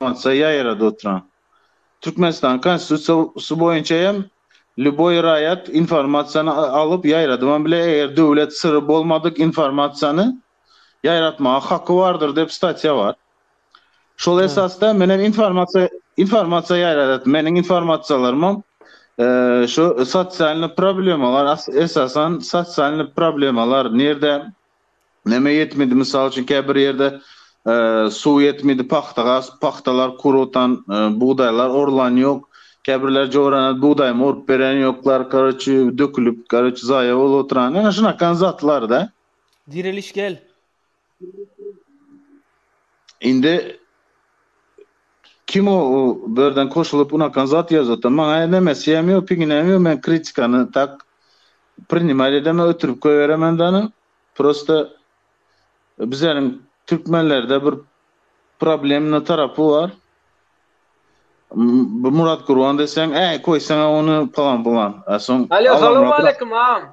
Emosiýa ýaýrady oturan. Türkmenistanyň Konstitusiýasy boýunça hem lýuboý raýat informasiýany alyp ýaýradybam biler, eger döwlet syry bolmadyk informasiýany ýaýratmaga haky bardyr diýip statýa bar. Şol esasda men hem informasiýa informasiýa ýaýradýaryn. Meniň informasiýalarymam şu sosialnyý problemalar, esasan sosialnyý problemalar nirde Näme ýetmedi, mysal üçin käbir ýerde suw ýetmedi, pagta gasyp, pagtalar kurutan, bugdaýlar orulan ýok, käbirler jorana bugdaýmy orup beren ýoklar, karoçi dökülip, karoçi zaýa bolup oturan, ýöne şunakan zatlarda. Direliş gel. Indi. Kim o birden koşulyp unakan zat ýazýata maňa näme sýem ýok piginem ýok men kritikany tak prinimait edemok ötürip goýberemen dana prosta bizleriň türkmenlerde bir problemny tarapy bar bu murat gurban deseň äý koýsaňa ony pylan pylan a soň Alo salowmaleýkim agam.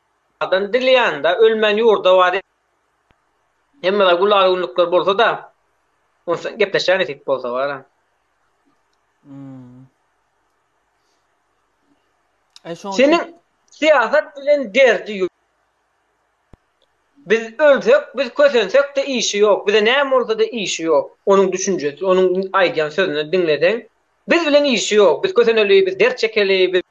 Adam dili ýanynda ölmän ýurda bar. Hemmede gulaly günlükler bolsa-da, onsaň gepleşä nesip bolsa baram. Seniň syýasat bilen derdi ýok. Biz ölsek, biz kösensek-de işi ýok. Bize näme bolsa-da işi ýok. Onuň düşünjesi, onuň aýdýan sözüni diňleseň, biz bilen işi ýok. Biz köseneli, biz dert çekeli, biz.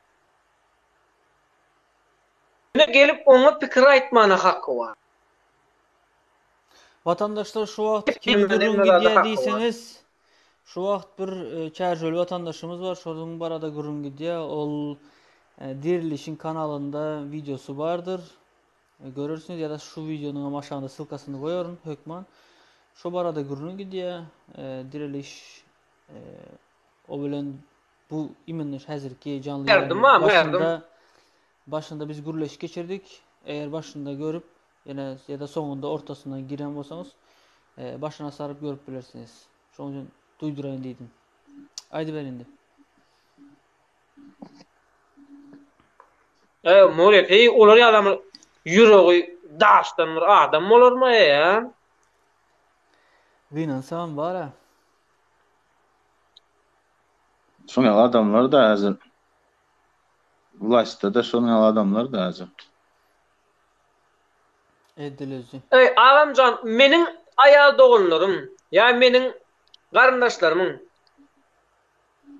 Ýöne gelip oňa pikir aýtmana haky bar. Watandaşlar şu wagt kim gürrüň gidýä diýseňiz şu wagt bir çärjeuli watandaşymyz bar şonuň barada gürrüň gidýä ol dirilişiň kanalynda wideosy bardyr görersiňiz ýa-da şu wideonyň hem aşagynda sylkasyny goýaryn hökman şo barada gürrüň gidýä diriliş o bilen Bu imenler häzirki janly ýaýlym başynda başynda biz gürleşik geçirdik. Eger başynda görüp ýene ýa-da soňunda ortasynda giren bolsaňyz e, başyna saryp görüp bilersiňiz. Şoň üçin duýduraýyn diýdim. Aýdyber indi. E, Murek, heý, olar ýalam ýüregi daşdan bir adam bolarmy ýa? Gynansam bar-a. Şoň ýaly adamlar-da häzir wlaýstda-da şoň ýaly adamlar-da häzir. Ediliji. Eý, agamjan, meniň aýal doganlarym ýa meniň garyndaşlarymyň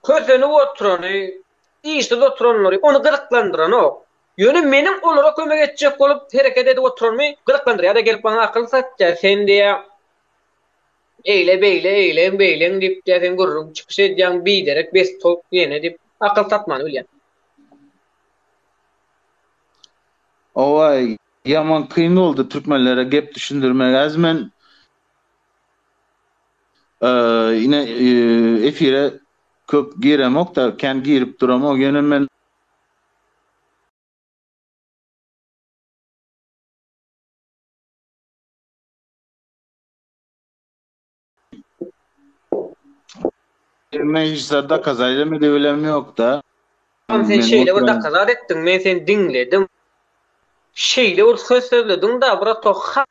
kösenip oturany, işsiz oturanlary ony gyzyklandyranok. Ýöne meniň olara kömek etjek bolup hereket edip oturanymy gyzyklandyrýar-da, gelip maňa akyl satýar, sen diýýär, Eýle beýle eýleň beýleň diýip diýýär sen gürrüň çykyş edýäň biderek bes towuk diýene diýip akyl satmany bilýän. Owaý ýaman kyn boldy türkmenlere gep düşündirmek az men ine efire köp giremokda kän girip duramok ýöne men Emme hiç zat dakaza edemedi bilem ýokda. Ýa sen şeýle bir dakazat etdiň, men seni diňledim. Şeýle bir söz sözlediň-da, brato, ha!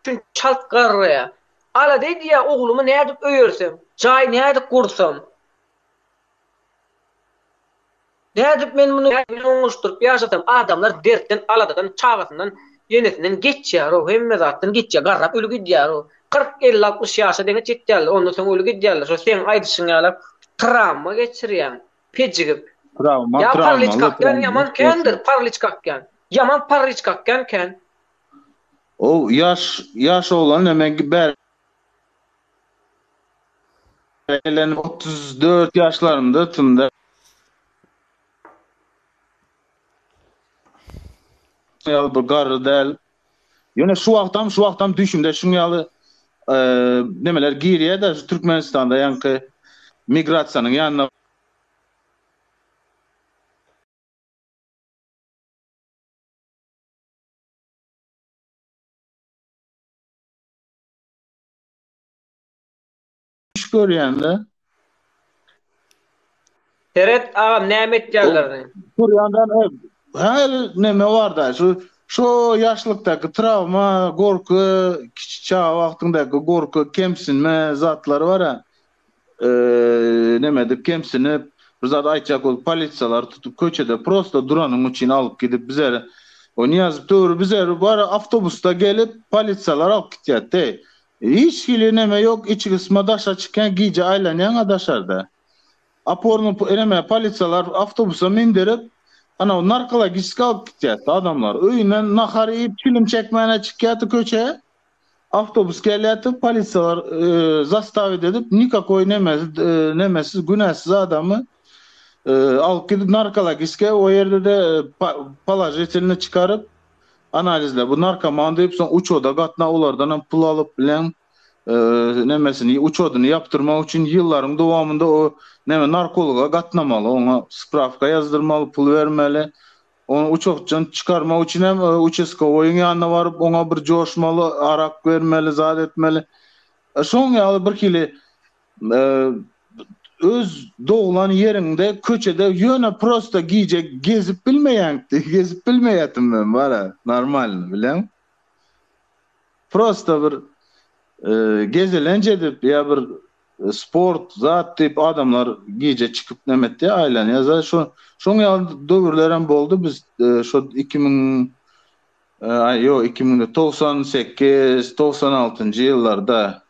Üçin çalt garraýa. Alada edýä oglumy nädip öýerseň, jaý nädip gursam. Nädip men muny bilen oňuşdyryp ýaşasam, adamlar dertden, aladadan, çagasyndan, enesinden geçýär-ow, hemme zatdan geçýär, garrap öli gidýär-ow. Kyrk, elli, altmyş ýaşa deňiç ýetýärler, ondan soň öli gidýärler, şo seň aýdyşyň ýaly trawma geçirýän, pejigip. Trawma, trawma, ýa parlyç kakýan ýaman kändir, parlyç kakýan, ýaman parlyç kakýan kän. Ow, ýaş, ýaş oglan näme bär. Eýlenip otuz dört ýaşlarymda ötdüm-de. Şuň ýaly bir garry däl. Ýöne şu wagtam, şu wagtam düýşümde şuň ýaly nemeler girýär-de, şu Türkmenistanda ýaňky migrasiýanyň ýanyna Iş görýänle. Seret agam näme etýärlerini. Görýänler her näme barda şu şu ýaşlykdaky trawma, gorky, kiçi çaga wagtyňdaky gorky, kemsinme zatlary bar-a. Neme edip kemsinip bir zat aýtjak bolup polisiýalary tutup köçede prosta duranyň üçin alyp gidip bizeri o Niýazow töwri bizeri bara awtobusda gelip polisiýalar alyp gitýär teý hiç hili neme ýok içi gysma daşa çykýan gije aýlanýaňa daşarda oporny neme polisiýalar awtobusa mindirip anaw narkologiski alyp gitýärdi adamlar öýünden nahar iýip çilim çekmäne çykýardy köçe. Awtobus gelýärdi, polisiýalar zastawit edip, nikakoý nemesiz, günäsiz adamy alyp gidip narkologiske, o ýerde-de položitelnyý çykaryp, analizle bu narkoman diýip, soň uçoda gatna, olardanam pul alyp bilen, nemesini, uçodyny ýapdyrmak üçin ýyllaryň dowamynda o neme narkologa gatnamaly, oňa sprawka ýazdyrmaly, pul bermeli, Ony uçakdan çykarmak üçin hem uçaskowoýyň ýanyna baryp, oňa bir joşmaly, arak bermeli, zat etmeli. Şoň ýaly birhili öz doglan ýeriňde, köçede ýöne prosta gije gezip bilmeýäňdi, gezip bilmeýärdim men bara, normalny, bileň. Prosta bir gezelenç edip ýa bir Sport zat diýip adamlar gije çykyp näme etýär aýlanýar şo şoň ýaly döwürlerem boldy biz şo iki müň aý ýok iki müň däl togsan sekiz togsan altynjy ýyllarda.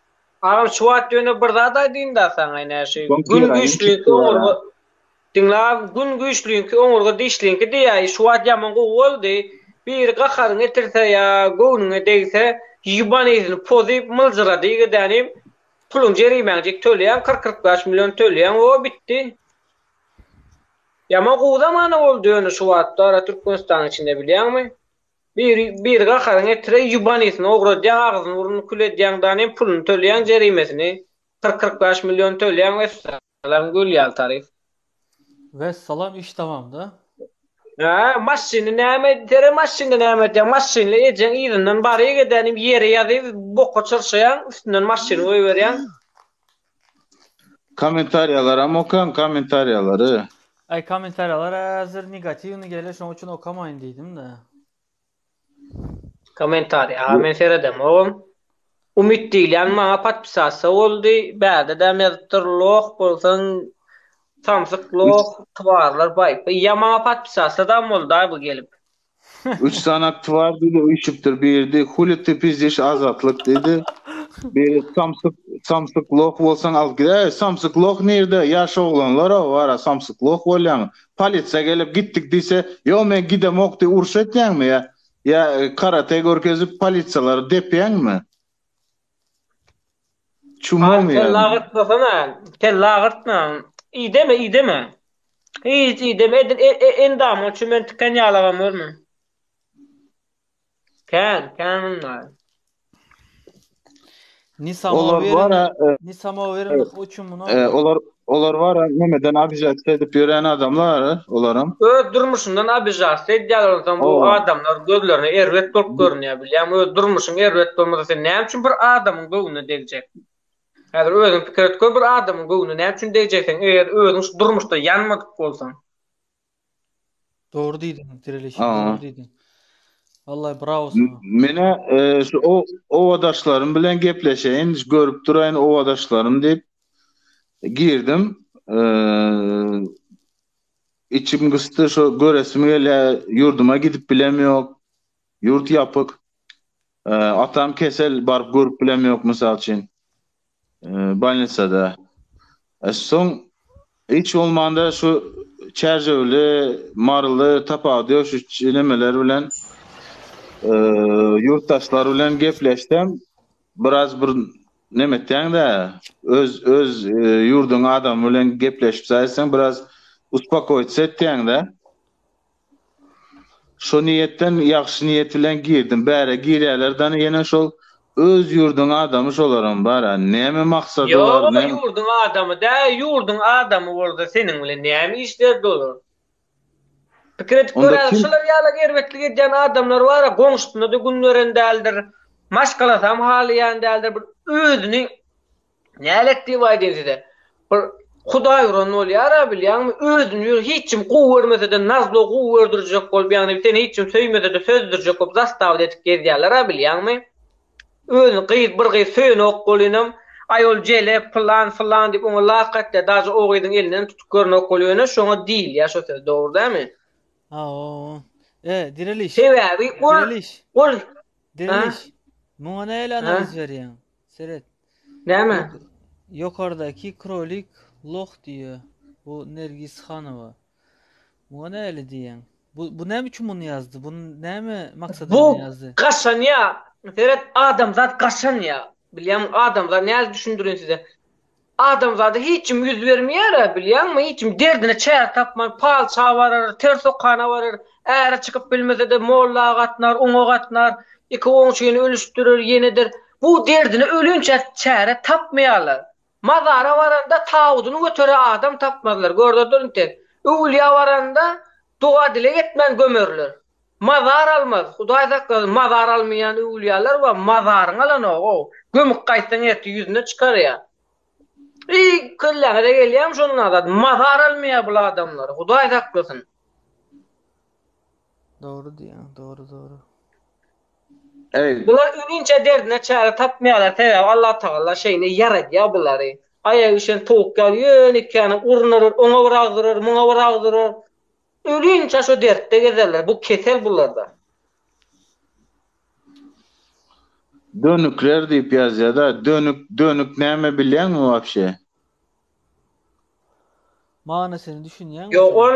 Agam şu wagt ýöne bir zat aýdyýynda saňa ine şu gün güýçli oňurga diňle agam gün güýçliňki oňurga dişliňki diýýär şu wagt ýaman gowy boldy biri gaharyňy getirse ýa göwnüňe degse ýuban yzyny pozup myljyrady gidenim Puluň jerimäňjik tölýäň kyrk kyrk bäş million tölýäň wo bitdi. Ýaman gowy zamana boldy ýöne şu wagtda ara Türkmenistanyň içinde bilýäňmi bir bir gaharyň etire ýubanysyny ogradýaň agzyny burnuny kül edýaň dan hem puluny tölýäň jerimesini kyrk kyrk bäş million tölýäň wessa. Salam gül ýaly taryp. Wessalam iş tamamda. Hä, maşyny näme edýär, maşynda näme edýär, maşynly ejeň yzyndan baryk edänim ýere ýazyp boka çyrşaýaň, üstünden maşyny goýberýäň. Kommentariýalaram okaň kommentariýalary. Aý kommentariýalar häzir negatiwny geler şoň üçin okamaýyn diýdim-de. Komentariý. Aga men seredemogum. Umyt diýilýän maňa podpisasiýa boldy. Bärde däm ýazypdyr. Loh bolsaň samsyk loh, twarlar baýp. Ýa maňa podpisasiýa dam boldaý bu gelip. Üç sany twar diýdi üýşüpdir. Biridi Huly ty pizdiş Azatlyk diýdi. Biri samsyk samsyk loh bolsaň alyp gider. Samsyk loh nirde? Ýaş oglanlar-a bar-a samsyk loh bolýaň. Polisiýa gelip gitdik diýse, ýok men gidemok diýip uruş etýäňmi ýa ýa karate görkezip polisiýalary depýäňmi? Çumaňmy ýa? Kelle agyrtmasana, kelle agyrtma. Ideme, ideme. Hiç ideme, edil endamyň üçin men tiken ýalagam görme. Kän, kän munlar. Ni samowerin, ni samowerin o üçin muny. Olar olar bar, nämeden abijat edip ýören adamlar, olaram. Öz durmuşyndan abijat edýärler, ondan bu adamlar gözlerine erbet bolup görünýär, bilýäňmi? Öz durmuşyň erbet bolmasa, sen näme üçin bir adamyň göwnüne degjek? Häzir özüň pikir et gör, bir adamyň göwnüne näme üçin degjek sen, eger özüň şu durmuşda ýanmadyk bolsaň? Dogry diýdiň, direlişi dogry diýdiň. Wallahi brawo saňa. Menä e, şu o owadaşlarym bilen gepleşeýin, görüp duraýyn owadaşlarym diýip girdim. E, içim gysdy, şu göresim gelýär, ýurduma gidip bilem ýok. Ýurt ýapyk. E, atam kesel, baryp görüp bilem ýok, mysal üçin. Bolnisada. Soň hiç bolmanda şu çärjewli, maryly tapawudy ýok şu nemeler bilen ýurtdaşlar bilen gepleşsem biraz bir neme etýäňdä öz öz ýurduň adamy bilen gepleşip saýrseň biraz uspokoitsa etýäňdä. Şo niýetden ýagşy niýet bilen girdim. Bärä girýäler dany ýene şol öz ýurduň adamy şolaram bara näme maksady bar Ýoga näme. ýurduň adamy dä ýurduň adamy bolsa seniň bilen näme işleri dolar. Pikir edip Onda göräýiň kim. şular ýaly erbetlik edýän adamlar bara goňşusyna da gün beren däldir. Maşgalasam halaýan däldir bir özüni Nälet diýip aýdyn size. Bir Hudaý uran bolýara bilýäňmi? Özüni ýöne hiç kim gowy görmese-de nazlo gowy gördürjek bolup ýagny seni hiç kim söýmese-de sözdürjek bolup zastawada edip gezýärler-a bilýäňmi? Özüni gyz bir gyz söýenok bolynam aý ol jele pylan fylan diýip oňa lak atýar daže o gyzyň elinenm tutup görnok bolup ýöne şoňa diýilýär şo söz dogry dämi? Haoo. E, direliş. Sebäbi ol Direliş. ol Direliş. Muňa näle analiz berýäň? Seret. Näme? Ýokardaky krolik loh diýýä. Bu Nergis Hanowa. Muňa näli diýýäň? Bu bu näme üçin muny ýazdy? Bu näme maksada Bu bilen ýazdy? gaşanýa. Seret, adamzat gaşanýa. Bilýäňmi, adamzat nädip düşündirin size? Adamzada hiç kim ýüz bermeýär-ä, bilýäňmi, hiç kim derdine çäre tapman, patyşa barar, ters okana barar, äre çykyp bilmese-de, molla gatnar, oňa gatnar, iki oňşyny ölüşdirer, ýenedir. Bu derdine ölinçä çäre tapmaýarlar. Mazara baranda tabydyny göterä adam tapmazlar, görder dur indi. Öwülýä baranda doga-dileg etmän gömerler. Mazar almaz, Hudaý saklasyn, mazar almaýan öwülýäler bar, mazaryňy alanogoo, gömüp gaýtsaň ertir ýüzüne çykarýar. Eý, kelläňize gelýärmi şondan zat, mazar almaýar bul adamlar, Hudaý saklasyn. Dogry diýýäň, dogry, dogry. Eý. Bular ölinçä derdine çäre tapmaýarlar, sebäbi Allatagala şeýle ýaradýar bulary. Aýagy üşen towuk ýaly ýöne ikäni urnarar, oňa bir agdyrar, muňa bir agdyrar. Ölinçä şo dertde gezerler, bu kesel bularda. Dönükler diýip ýazýada, dönük dönük näme bilýäňmi wapşe? Manysyny düşünýäňmi şoň? Ýok ol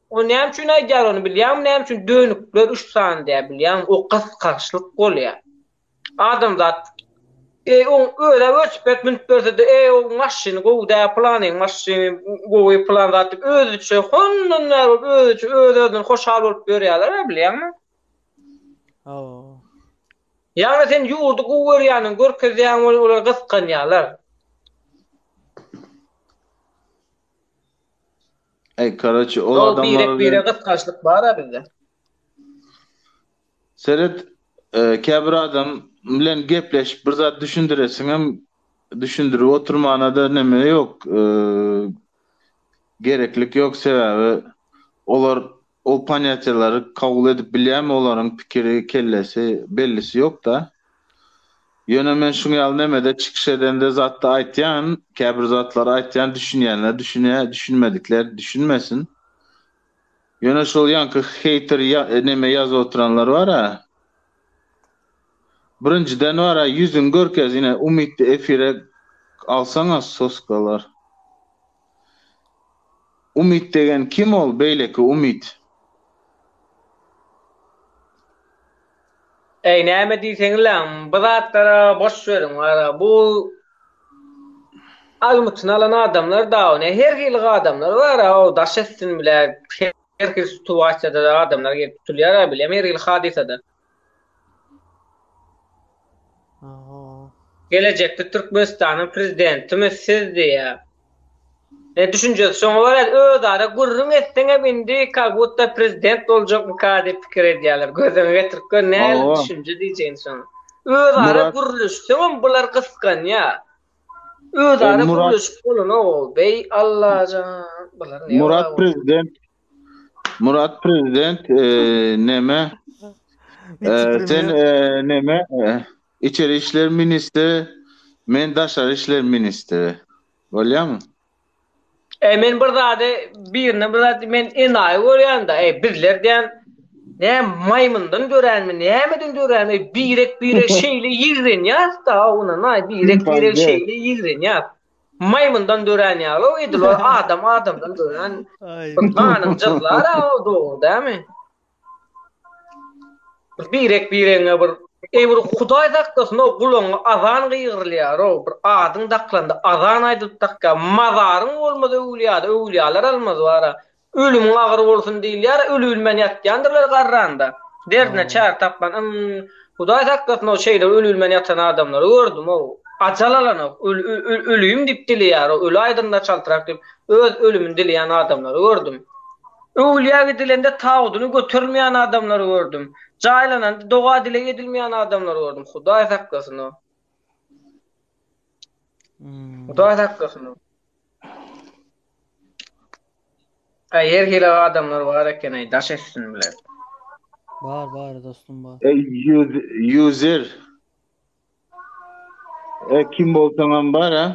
O näme üçin aýdýar ony bilýäňmi näme üçin dönükler üç sany diýýär bilýäňmi o gysgaçlyk bolýar. Adamzat Eý oň özä welsiped münüp bersede eý oň maşyny gowy dä pylanyň maşyny gowy pylan zat diýip özüçe hondan näz bolup özüçe öz özünden hoşal bolup ýörýärler a bilýäňmi. Hawa. Ýagny sen ýurdy gowy görýäniň görkezýäň ol olar gysganýarlar. Eý karaçi ol adamlara. Ýok birek bire gysgançlyk bar a bizde. Seret, käbir adam bilen gepleşip bir zat düşündiresiňem, düşündirip oturmana-da neme ýok, gereklik ýok, sebäbi olar ol ponýatiýalary kabul edip bilýärmi, olaryň pikiri, kellesi, bellisi ýok-da. Ýöne men şuň ýaly nemede çykyş edende zatda aýtýan, käbir zatlary aýtýan, düşünýänler düşünýär, düşünmedikler düşünmesin. Ýöne şol ýaňky heýter neme ýazyp oturanlar bara. Birinjiden bara ýüzüňi görkez ine umytly efire alsaňa soskalar. Umyt degen kim ol beýleki umyt. Äý näme diýseňizläň bu zatlara boş beriň wara bu almytyny alan adamlar dagy ne her hili adamlar bara o daş etsin bile her hili situasiýada da adamlar gelip tutulýar a bilem her hili hadysada. Gelejekde Türkmenistanyň prezidentimi siz diýýär. Düşünjesi şoňa görä özara gürrüň etseň hem indi ka butta prezident boljakmyka diýip pikir edýärler. Gözüňe getirip gör nähili düşünje diýjegini şoň. Özara gürleşseň hem bular gysganýar. Özara gürleşip bolanok ol. Beý Allajan bular näme. Murat prezident Murat prezident neme sen neme Içeri işler ministri, men daşary işler ministri. Bolýamy? Eý, men bir zady, birine bir zat, men enaýy görýän-dä, eý, bizler diýen, nä, maýmyndan döränmi, nämeden dörän, eý, birek-birek şeýle ýigrenýäs-dä, ynanaý, birek-birek şeýle ýigrenýäs. Maýmyndan dörän ýaly-ow edil, ol adam adamdan dörän, bir ganyň jyzlary-ow, dogry dälmi? Bir birek biregiňe bir Eý bir Hudaý saklasyn-ow gulagyňa azan gygyrylýar-ow bir adyň daklanda azan aýdylyp dakýar mazaryň bolmaz öwlýada öwlýalar almaz bara ölümiň agyr bolsun diýilýär ölübilmän ýatýandyrlar garranda derdine çäre tapman ym Hudaý saklasyn-ow şeýle ölübilmän ýatan adamlary gördüm-ow ajal alanok öl-öl-ölüýim diýip dileýär-ow öli aýdymda çaltrak diýip öz ölümini dileýän adamlary gördüm. Öwülýä gidilende tabydyny götermeýän adamlary gördüm. Jaýlananda doga-dileg edilmeýän adamlary gördüm. Hudaý saklasyn-a. Hudaý saklasyn-a. Äý, her hili adamlar bar eken-eý, daş etsin bilen. Bar, bar, dostum, bar. Eý, ýu, ýuzer! E kim bolsaňam bar a.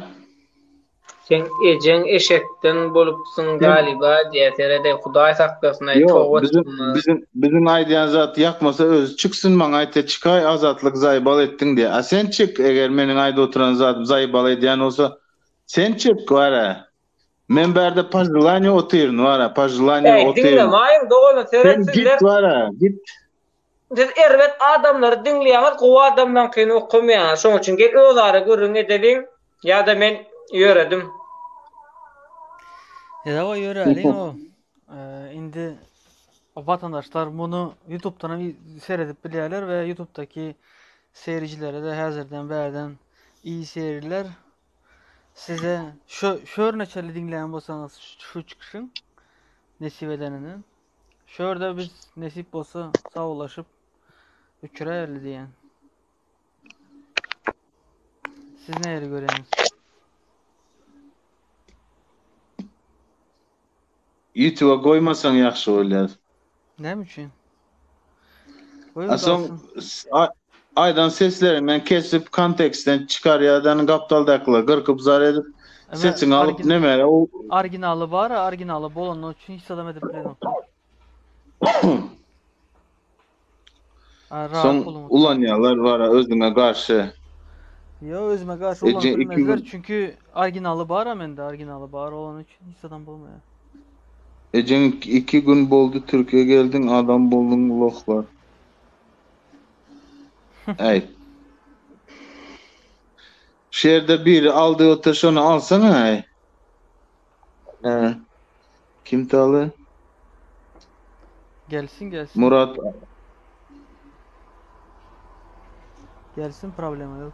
Seň ejeň eşekden bolupsyň galyba diýä seredeý hudaý saklasyn aý toba çykmaz. Biziň biziň aýdýan zat ýakmasa özi çyksyn maňa aýtsa çykaý azatlyk zaýbal etdiň diýä a sen çyk eger meniň aýdyp oturan zadym zaýbal edýän bolsa sen çyk bar a men bärde paželaniýa otyryn bar a paželaniýa otyryn. Aý diňle maýyň dogany seret sizler. Sen git bar a git. Siz erbet adamlary diňleýäňiz gowy adamlaňkyny okamaýaňyz şoň üçin gel özara gürrüň edeliň ýada men ýöredim. Edawa ýöräliň o indi watandaşlar muny ýutubdan hem seredip bilýärler we ýutubdaky seýrijilerede häzirden bärden i seýriler size şo şörneçeli diňleýän bolsaňyz şu çykyşyň nesip edenini. Şu ýerde biz nesip bolsa sawlaşyp üçräli diýen. Siz näleri görýäňiz? Ýutube goýmasaň ýagşy bolýar. Näme üçin? Goýun Soň dogsun. aýdan sesleriňden kesip kontekstden çykarýadan gapdaldakylar gyrkyp zar edip sesiňi alyp nemere u Originaly bar originaly bolany üçin hiç zadam edip bilenoklar. Soň ulanýarlar bara özüňe garşy. Yo özüme garşy ulanmazlar çünki originaly bar mende originaly bar olany üçin hiç zadam bolmaýar. Ejeň iki gün boldy türkiye geldiň adam bolduň lohlar. Äýt. Şu ýerde biri aldy otyr şony alsaňaý. Hä. Kim taly? Gelsin gelsin. Murat Gelsin problema yok.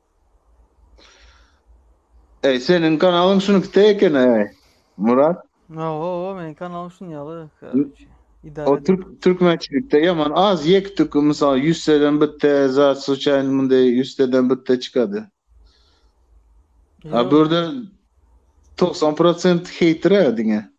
Eý seniň kanalyň şunikde ekeni eý Murat. Ohoho meniň kanalyň şunuň ýaly karoçi. Idare O türk türkmençilikde ýaman az ýek tük mysal ýüzseden bitde za suçaýny munde ýüzseden bitde çykady. A bürde togsan prosent heýtira diňe.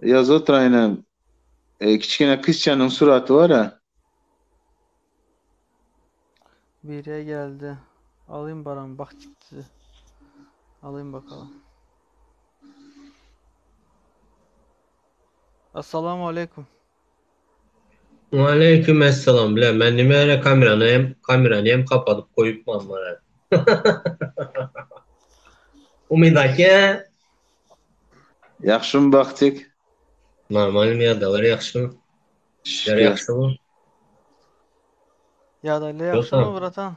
Ýazyp otyraýyn hem. Kiçgene kyzjanyň suraty bara. Birje geldi. Alyn baran bak çikdizi. Alyn bakalyň. Assalamu aleykum. Waleýkim essalam bile men nimäne kamerany hem kamerany hem kapadyp goýupman mara. Umyt aka. Ýagşymy Bagtyk? Normalny mi ýadalar ýagşymy? Şükür. Ýagşymy? Ýadalar ýagşymy bratan?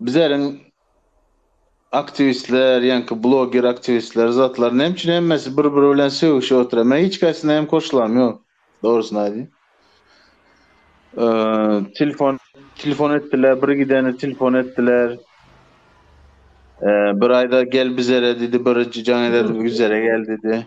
Bizeriň aktiwistler, ýaňky bloger aktiwistler zatlar näme üçin hemmesi bir biri bilen sögüşip otyr. Men hiç kaýsyna hem koşulam ýok dogrusyny aýdyň. Telefon telefon etdiler bir gideni telefon etdiler. Bir aýda gel bizere diýdi bir jaň eder bizere gel diýdi.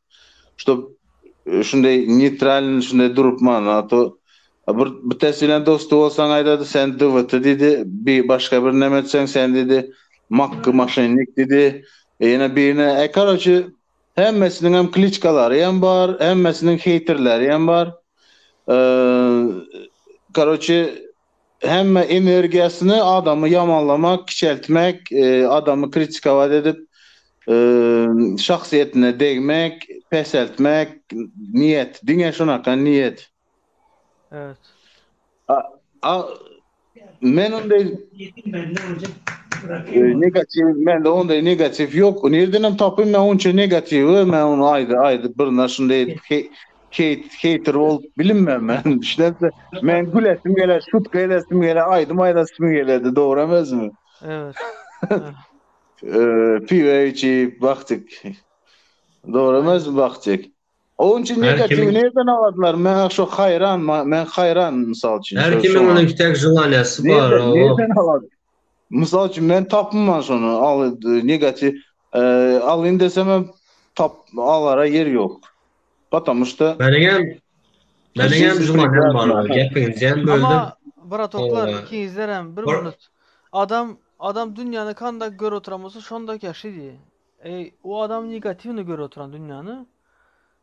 Ştob şunday neytralny şunday durup mana ato bir bitesi bilen dosty bolsaň aýdady sen dwt diýdi bi başga bir neme etseň sen diýdi makgy maşennik diýdi ýene birine e karoçi hemmesiniň hem kliçkalary hem bar hemmesiniň heýterleri hem bar e karoçi Hemme energiýasyny adamy ýamanlamak, kiçeltmek, adamy kritikowat edip, şahsyýetine degmek, peseltmek, niýet, diňe şunaka niýet. Evet. A, men onday negatiw, mende onday negatiw ýok. Nirdenem tapyn men onça negatiwi, men ony aýdyp birine şunday edip Hate, hater bolup bilinmem men. Düşüneňde, men gülesim gele, şutka edesim gele, aýdym aýdasym geledi, dogrymy özümi? Evet. Eee, piwa içip bakdyk. Dogrymy özüm bakdyk. Oň üçin negatiw nereden alarlar? Men şu haýran, men haýran mysal üçin. Her kimiň onuň tek jylanyasy bar. Nereden alar? Mysal üçin men tapynman şony al negatiw alyn desem tap alara ýer ýok. Patamu şda. Meniň hem meniň hem juman hem bar gepiňizi hem böldüm. Ama bratoklar ikiňizler hem bir minut adam adam dünýäni kanda görüp oturan bolsa şonda käşidi. Eý o adam negatiwny görüp oturan dünýäni.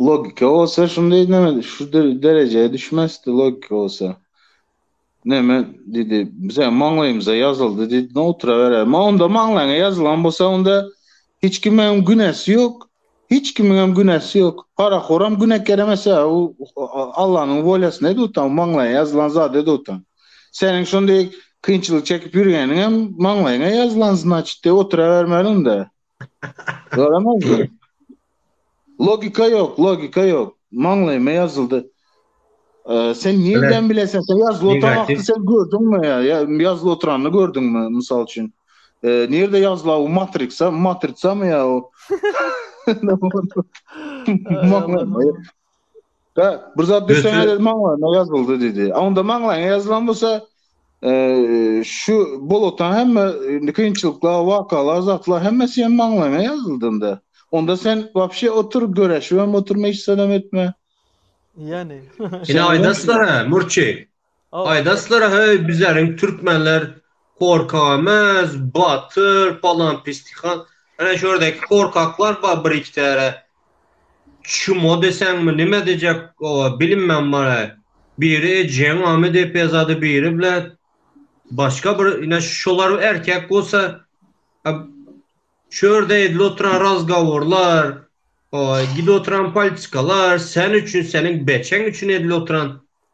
Logika bolsa şunday neme şu derejeye düşmezdi logika bolsa. Neme dedi bize maňlaýymyza ýazyldy dedi ne otura berer. Ma onda maňlaňa ýazylan bolsa onda hiç kim hem günäsi ýok. Hiç kimiň hem günäsi ýok. Para horam güne keremese o Allanyň wolýasy ne dutan maňlaýa ýazylan zat edi otan. Seniň şunday kynçylyk çekip ýürgeniň hem maňlaýyňa ýazylan znaçit de otura bermeliň de. Göremezdim. Logika yok, logika yok. Maňlaýyma ýazyldy. Ee, sen nirden bilesin? Sen ýazly oturan wagty sen gördüňmi? Ýa- Ýazly oturanyny gördüňmi, mysal üçin? Ee, Nirde ýazla o matriksa, matritsamy ýa o? Maňlaýyma- Da, bir zat düşsene dedi maňlaýyna ýazyldy dedi. Onda maňlaýyna ýazylan bolsa, e, şu bolotdan hemme e, kynçylyklar, wakalar, zatlar hemmesi hem maňlaýyna ýazyldynda. Onda sen wapşe otur, göreşip hem oturma hiç zat hem etme. Yani. Ine aýdaslar ha, murçi. Aýdaslara heý bizleriň türkmenler korkagmaz batyr palan pistihan ene şu ýerdeki korkaklar bar bir iki täre çumo deseňmi nime dejek oa bilinmän bar heý biri ejeň amy dep ýazady biri bile başga bir ine şolar erkek bolsa şu ýerde edil oturan razgawurlar oa gidip oturan politikalar sen üçin seniň beçeň üçin edil oturan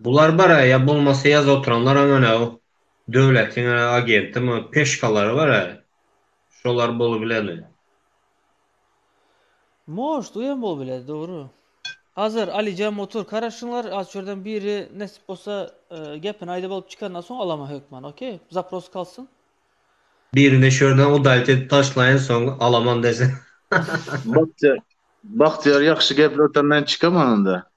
Bular bar-a, ýa bolmasa ýaz oturanlaram ene o döwletiň ene agentimi, peşkalary bar-a, şolar bolup bileni. Možt, oýam bolup biler, dogry. Hazar, Alijan otur, karaşyňlar, az çörden biri nesip bolsa gepini aýdyp alyp çykandan soň alama hökman, ok? Zaprosy kalsyn. Birini şörden udalit edip taşlaýyn, soň alaman desen. Bagtyýar, Bagtyýar ýagşy geplersen men çykaman onda.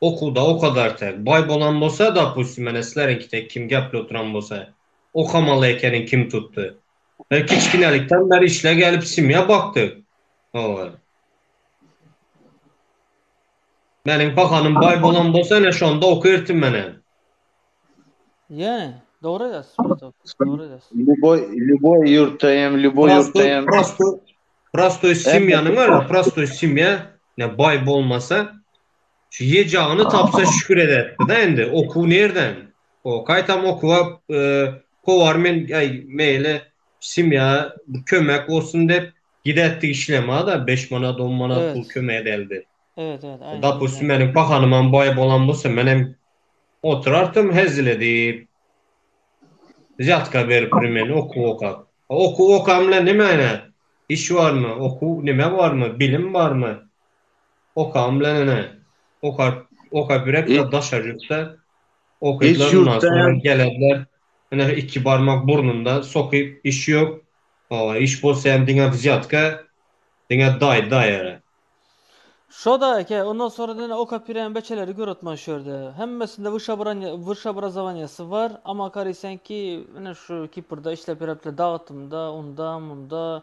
Okuwda okadar tek baý bolan bolsa, dopustim, menä sizleriňki tek kim gepli oturan bolsa, okamaly ekeniň kim tutdy? Biz kiçginelikden bäri işle gelip simýa bakdyk. Hawa. Meniň pahanym baý bolan bolsa, ine şonda okertim menä. Ýene, dogry aýdasyň Mustafa, dogry aýdasyň. Lýuboý, lýuboý ýurtda hem, lýuboý ýurtda hem. Prostoý, prostoý, prostoý simýanyň bar, prostoý simýa, ine baý bolmasa, Şu ýejagyny tapsa şükür ederdi-de indi. Okuw nirden? O, gaýtam okuwa kowar men, aý, meýli, simýa bir kömek bolsun dep gidertdik işlema-da, beş manat, on manat pul kömek edäldi. Evet, evet, aýna. Dopustim, meniň pahanymam baý bolan bolsa, menem oturartym hezil edip. Zýatka beriprin men okuw okap. Okuw okan bilen näme aýna? Iş barmy? Okuw näme barmy? Bilim barmy? Okam bilen ene okap okap birek de daşary ýurtda okatlar ondan soňra gelediler. Ene iki barmak burnunda sokyp iş ýok. Hawa iş bolsa hem diňe wzýatka diňe daý daý ere. Şoda eke ondan soňra ene okap birem beçeleri görotman şu ýerde. Hemmesinde wyş wyş obrazowaniýasy bar ama garaýsanki ene şu Kiprda işlep ýörepdiler dagtymda unda munda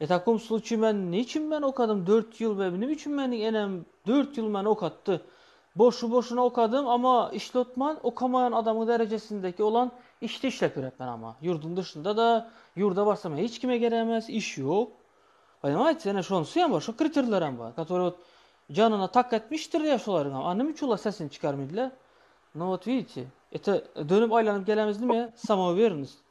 E takom sluçiý men niçin men okadym dört ýyl we nim üçin meniň enem dört ýyl meni okatdy boşu boşuna okadym ama işlotman okamaýan adamyň derejesindeki olan işde işlep ýörepmen ama ýurduň dyşynda da ýurda barsam hiç kime geremes iş ýok poнимaýtis ene şonsy hem bar şo kriterler hem bar katori ot janyna tak etmişdir ya şolaryň hem a nim üçin olar sesini çykarmydylar no ot widite ete dönüp aýlanyp gelemizdim ya samowernost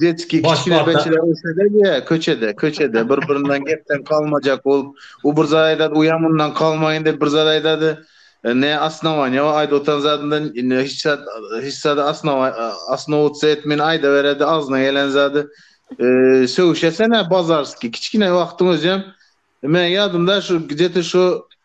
Detskiý kiçine beçiler ösede diýä, köçede, köçede bir-birinden gepden galmajak bolup, u bir zat aýdady, u ýam undan galmaýyn diýip bir zat aýdady. Ne osnowaniýa bar, aýdyp oturan zadyndan hiç zat, hiç zada osnowa, osnowutsa etmeýin aýdaberedi agzyna gelen zady. Sögüşesenä bazarskiý, kiçkine wagtyň özem, meň ýadymda şu gde-te şu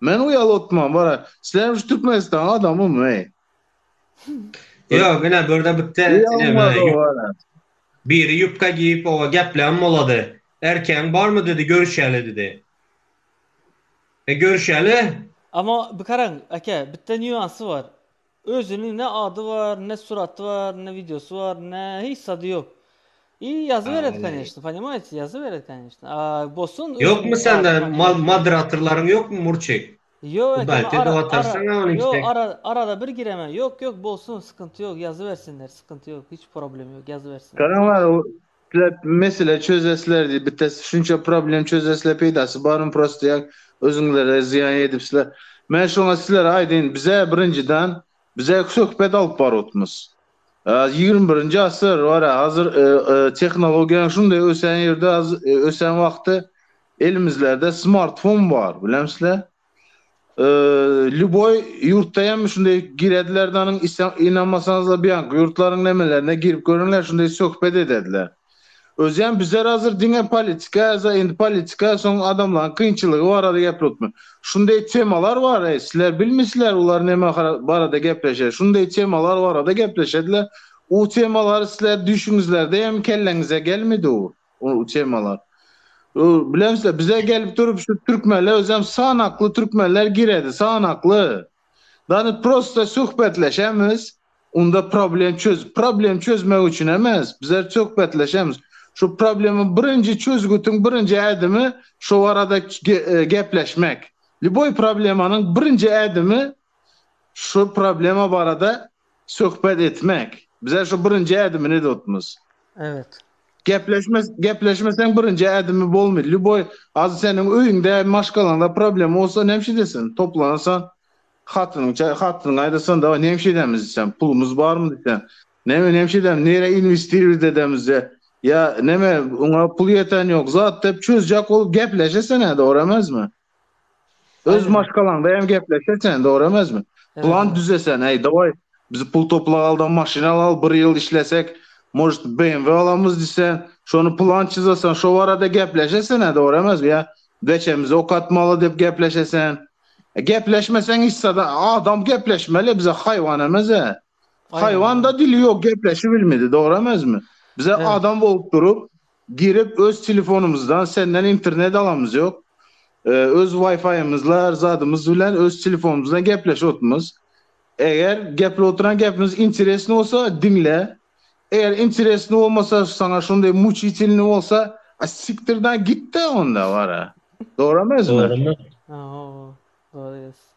Men uýal otman bara. Sizem şu Türkmenistan adamy my? Ýok ine birde bitte biri ýupka giýip oba gepläm bolady. Erkegiň barmy dedi görüşeli dedi. E görüşeli. Ama bikaraň eke bitte nýuansy bar. Özüniň ne ady bar, ne suraty bar, ne wideosy bar, ne hiç zady ýok. I ýazyberer koneçno, ponimaýte, ýazyberer koneçno. A bolsun Ýokmy sende mal moderatorlaryň ýokmy Murçik? Ýok eken ara ara ara arada bir giremen ýok ýok bolsun skynty ýok ýazybersinler skynty ýok hiç problemi ýok ýazybersinler. Isläp mesele çözesler diýip bites şunça problem çözesler peýdasy barmy prosta ýa özüňlere zyýan edipsler. Men şoňa sizlere aýdaýyn bizä birinjiden bizä söhbet alyp barutmys. Ýigrimi birinji asyr wara hazir tehnologiýaň şunday ösän ýerde ösän wagty elimizlerde smartfon bar bilemsle. Lýuboý ýurtda hem şunday girediler de onuň inanmasaňyzlar buýanky ýurtlaryň nemelerine girip görüňler şunday söhbet edediler. Özem bizler hazir diňe politika ýa-da indi politika soň adamlaryň kynçylygy barada gepletme. Şunday temalar bar eý sizler bilmisiler bular neme barada gepleşer şunday temalar barada gepleşediler u temalary sizler düýşüňizlerde hem kelleňize gelmedi u. o temalar. O bilemse bize gelip durup şu türkmenler özem sanakly türkmenler giredi sanakly. Dany prosta söhbetleşemiz. Onda problem çöz problem çözmek üçin emes. Bize söhbetleşemiz. Şu problemi birinji çözgütün birinji ädimi şu arada e, gepleşmek. Liboy problemanyň birinji ädimi şu problema barada Söhbet etmek. Bize şu birinji ädimi ne dotmuz. Evet. Gepleşme gepleşme sen birinji ädimi bolmy. Lüboy az seniň öýüňde maşgalaňda problem bolsa ne edesin. Toplansa hatynyň çay hatynyň aýdasan da ne edemiz sen pulumuz barmy diýse. Neme ne edem nere investirimiz edemizde. Ya neme oňa pul ýeten ýok zat dep çözjek ol gepleşe sen ä dogry emezmi. Öz maşgalaňda hem gepleşe sen, dogry emesmi? Plan düzesen, eý, dawaý, biz pul toplagalda maşyn alaly, bir ýyl işlesek, может, BMW alamyz diýsen, şony plan çyzasan, şo barada gepleşe sen-ä, dogry emesmi? Ýa beçemizi okatmaly diýip gepleşe sen. Gepleşmeseň, yssa-da, adam gepleşmeli, bize haýwan emes-ä. Haýwanda dili ýok gepleşi bilmedi dogry emezmi? Bize adam bolup durup girip öz telefonymyzdan senden internet alamyz ýok. Öz waýfaýymyzla her zadymyz bilen öz telefonymyzdan gepleşip otmyz. Eger geplip oturan gepimiz interesny bolsa diňle. Eger interesny bolmasa saňa şondaý muçitilny bolsa a siktirdan gitde onda bara. Dogry emezmi? Dogry. Dogry.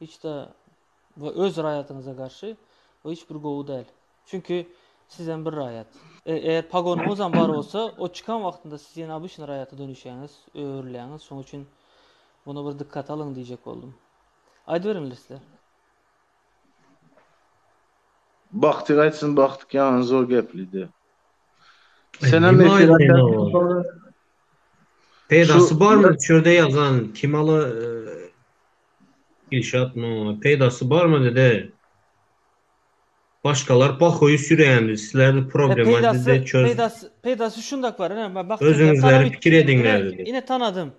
Hiç-de we öz raýatyňyza garşy bu hiç bir gowy däl. Çünki sizem bir raýat. Eger pagonyňyzam bar bolsa, o çykan wagtynda siz ýene obyçny raýata dönüşýäňiz, öwrülýäňiz. Şoň üçin buna bir dykkat alyň diýjek boldum. Aýdyberiňler sizler. Bagtyk aýtsyn Bagtyk ýaňy zor geplidi. Senem efir açar. Peýdasy barmy şu ýerde ýazan kim ala Dilşat muňa peýdasy barmy bizde başgalar bahoýy sürýämiz sizlerdi problema bizde çöz. Peýdasy peýdasy şundak bar ine men bakdim özüňizleri pikir ediňler dedi. Ine tanadym.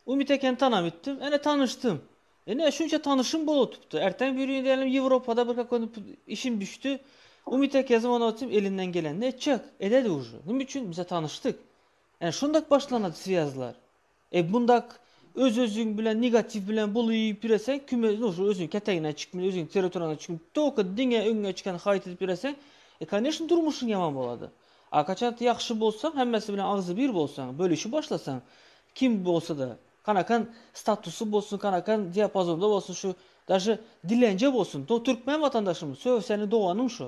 Umyt ekeni tanap gitdim ine tanyşdym. Ine şunça tanyşym bolup otupdy erteň birgün diýelim ýewropada bir kakony işim düşdi. Umyt eke zywanyp otyrym elinden gelenini etjek ededi uje nime üçin bize tanyşdyk. Ine şundak başlanady swýazlar. Egmundak öz özüň bilen negatiw bilen buly pireseň küme nu şu özüň ketegine çykmyl özüň territorýaňa çykmyl toka diňe öňňe çykan haýt edip ýöreseň e kanyşn durmuşyň ýaman bolady a kaçant ýagşy bolsaň hemmesi bilen agzy bir bolsaň bölüşi başlasaň kim bolsada kanakan statusy bolsun kanakan diapazonda bolsun şu daže dilenje bolsun to türkmen watandaşym sö seniň doganyň şu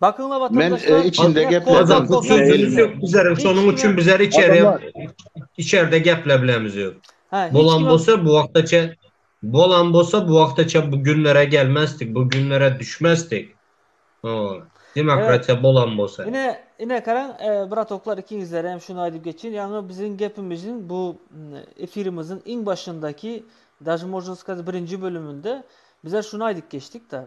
Bakyňla watandaşlar. Men içinde gepledim. Bizler şonuň üçin bizler içeri içerde geplebilemiz ýok. Bolan bolsa bu wagta çen bolan bolsa bu wagta çen bu günlere gelmezdik, bu günlere düşmezdik. Demokratiýa bolan bolsa. Ine, ine garaň, bratoklar ikiňizlere hem şuny aýdyp geçeýin. Ýaňy biziň gepimiziň bu efirimiziň iň başyndaky, daže mozna skazat birinji bölüminde bizler şuny aýdyp geçdik-de.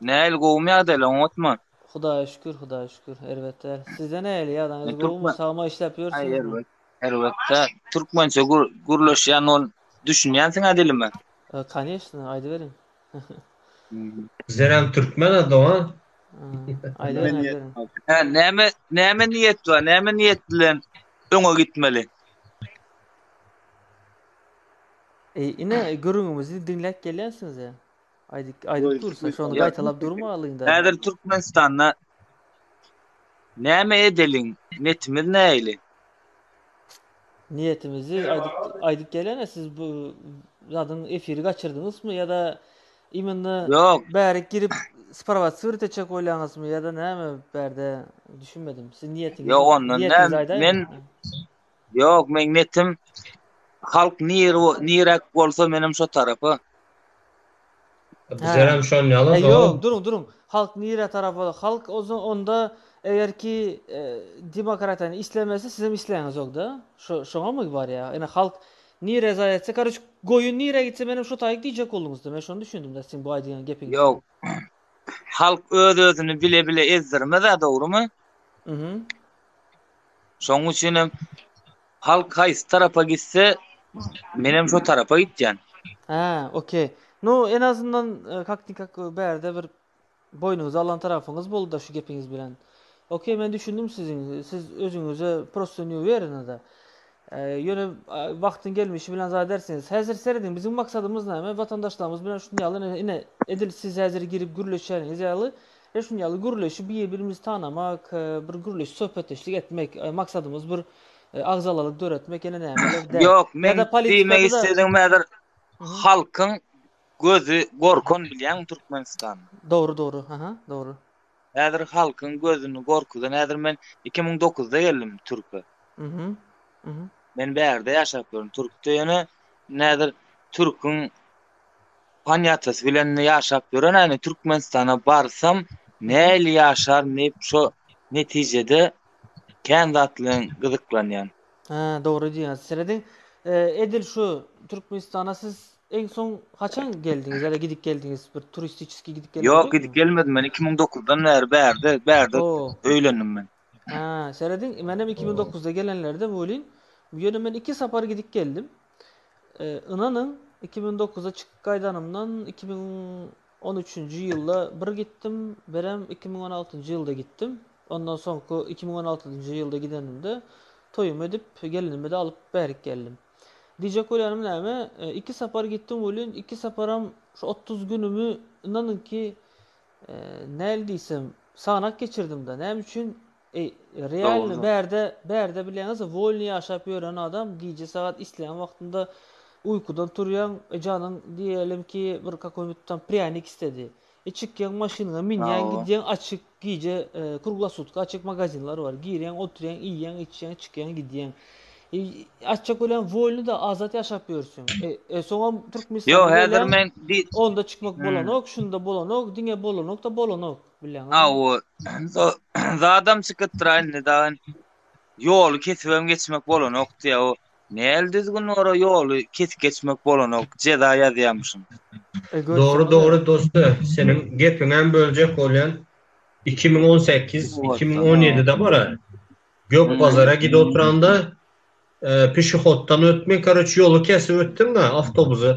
Näil gowumy ýagdaýlar oňatmy. Hudaýa şükür Hudaýa şükür erbet däl. Sizde nähili ýagdaýyňyz gowumy sagma işläp ýörsiňizmi. Erbet däl türkmençe gürleşýän ol düşünýänsiňä dilime. Kanyesno aýdyberiň. Bizdenem türkmen a dogan. Aýdyberiň aýdyberiň. Hä näme näme niýet bar näme niýet bilen öňe gitmeli. Ine gürrüňimizi diňläp gelýänsiňiz ä. Aýdyp aýdyp dursa şony gaýtalap durmalyň da. Häzir Türkmenistanda näme edeliň netimiz näili? Niýetimizi aýdyp aýdyp gelene siz bu zadyň efiri gaçyrdyňysmy ýa-da imенно Ýok. bärik girip sprowatsirt etjek bolýaňysmy ýa-da näme bärde düşünmedim. Siz niýetiňizi Ýok ondan niýetiňizi näme aýdaýyň. men Ýok meň netim halk nir nirek bolsa menem şo tarapa. Bizerem şon ýaly dogry. Ýok duruň duruň halk nirä tarapa halk onda eger ki demokratiýany islemese sizem isleýäňizokda şoňamy barýa ine halk nirä zaý etse karoç goýun nirä gitse menem şo taýy diýjek bolduňyzda men şony düşündimda siziň bu aýdýan gepiňizden. Ýok halk öz özüni bile bile ezdirmezä dogrymy? Şonuň üçin hem halk haýsy tarapa gitse, menem şo tarapa gitýän. Hä, okey. Nu, en azyndan e, kaknikak bärde bir boýnuňyzy alan tarapyňyz boldy şu gepiňiz bilen. Okey, men düşündim siziň. Siz özüňize prosto ne uwerenada. E, ýöne wagtyň gelmişi bilen zat edersiňiz. Häzir serediň, biziň maksadymyz näme? Watandaşlarymyz bilen şuny ýaly ine edil siz häzir girip gürleşýäniňiz ýaly Ine şuny ýaly gürleşip bir birimizi tanamak, bir gürleşip söhbetdeşlik etmek maksadymyz bir agzalalyk döretmek ýene nämeler däl. Ýok men diýmek istedim häzir halkyň gözi gorkun bilýäňmi Türkmenistan. Dogry dogry aha dogry. Häzir halkyň gözüni gorkudan häzir men 2009-da geldim Türkiýe. Mhm. Mhm. Men bärde ýaşap ýörün Türkiýede ýöne näzir Türküň Panýatasy bilen ýaşap ýörenäýni Türkmenistana barsam näli ýaşaryn diýip şo netijede kän zat bilen gyzyklanýan. Hä dogry diýýäňiz. Serediň edil şu Türkmenistana siz iň soň haçan geldiňiz ýa-da gidip geldiňiz bir turistiçeskiý gidip geldiňiz ýokmy? Ýok gidip gelmedim men iki müň dokuzdan bäri bärde bärde öýlendim men. Hä serediň menem iki müň dokuzda gelenlerde welin bu ýere men iki sapar gidip geldim. Ynanyň, iki müň dokuzda çykyp gaýdanymdan iki müň on üçünji ýylda bir gitdim, birem iki müň on altynjy ýylda gitdim. Ondan soňky iki müň on altynjy ýylda gidenimde toýumy edip, gelnimi-de alyp bärik geldim. Diýjek bolýanym näme, iki sapar gitdim welin, iki saparam şu otuz günümi, ynanyň ki, näl diýsem, sanaak geçirdim-de. Näme üçin? Eý, realno bärde, bärde bileňiz wolny ýaşap ýören adam gije sagat isleýän wagtynda uýkudan turýaň, e janyň diýelim ki bir kakoýnbit tam prýanik istedi. E çykýaň maşynyňa minýäň gidýäň açyk gije kruglasutki açyk magazinler bar girýäň oturýaň iýýäň içýäň çykýaň gidýäň. E açjak welin wolny da azat ýaşap ýörsüň. E e soňam türkmenistana geleň onda çykmak bolanok şunda bolanok diňe bolanok da bolanok. Awo, zadam çykypdyr-a indi dagy. Ýoly kesibem geçmek bolanokdy-ýa o. Näl düzgün bar-a ýoly kesip geçmek bolanok, jeza ýazýamyşyn. Dogry, dogry dost-a, seniň gepiňem böljek bolýan. Iki müň on sekiz, iki müň on ýedide bar-a, Gökbazara gidip oturanda, pişehoddan ötmek, karoç, ýoly kesip ötdüm-ä, awtobusy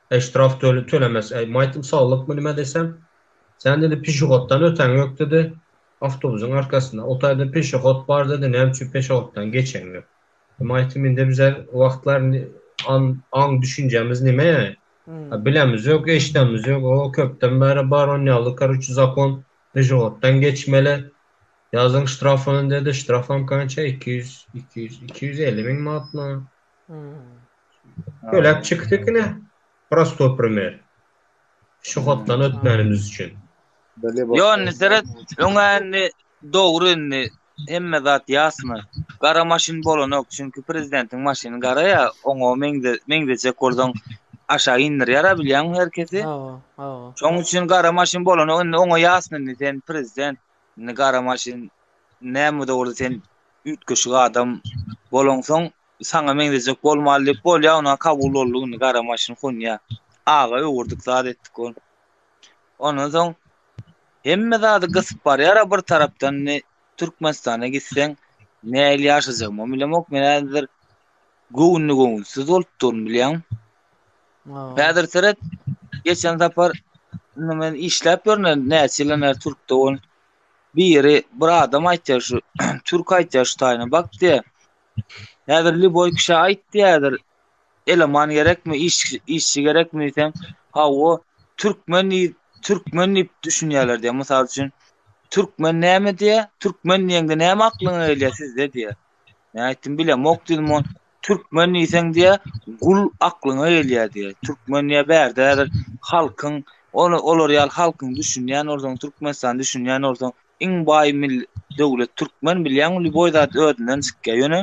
Eý ştraf tölemez eý maýtym saglykmy nime desem sen dedi pişehoddan ötäň ýok dedi awtobusyň arkasynda o taýda peşehod bar dedi näme üçin peşehoddan geçeň ýok maýtym indi bize wagtlar aň düşünjämiz nime bilemiz ýok eşdemiz ýok o köpden bäri bar on ýaly karuçi zakon peşehoddan geçmeli ýazyň ştrafyny dedi ştrafam kança iki ýüz iki ýüz iki ýüz elli meň manatmy Köläp çykypdykine prosto primer. Şu hotdan ötmänimiz üçin. Ýony seret, öňäni dogry indi hemme zat ýasna. Gara maşyn bolanok, çünki prezidentiň maşyny gara ýa, oňa meňze meňzejek bolsaň aşak indirýär-ä bilýäňmi herkesi. Hawa, hawa. Şoň üçin gara maşyn bolanok, indi oňa ýasna indi sen prezident. Indi gara maşyn näme de bolsa sen üýtgeşik adam bolaňsoň saňa meňzejek bolmaly diýip bolýa ona kabul boldy indi gara maşyn honýa aga öwürdik zat etdik ol ondan soň hemme zady gysyp barýara bir tarapdan indi türkmenistana gitseň näil ýaşajagymy bilemok men häzir göwünli göwünsiz bolup durun bilýäň Häzir seret, geçen sapar indi men işläp ýörne näçe ýyl näçe Türkde ol. Biri bir adam aýtýar şu, türk aýtýar şu taýyna bak diýýär. Häzir liboý kişä aýt diýýärdir. Eleman gerekmi, iş işçi gerekmi diýseň, hawa, türkmen diý, türkmen diýip düşünýärler diýýär. Mysal üçin, türkmen näme diýýär? Türkmen diýende näme aklyňa gelýär sizde diýýär. Men aýtdym bilemok diýdim on. Türkmen diýseň diýýär, gul aklyňa gelýär diýýär. Türkmen diýýär, bärde häzir halkyň, ol olar ýaly halkyň düşünýän bolsaň, Türkmenistany düşünýän bolsaň, iň baý mil döwlet türkmen bilýäňmi, lýuboý zat özünden çykýar. Ýöne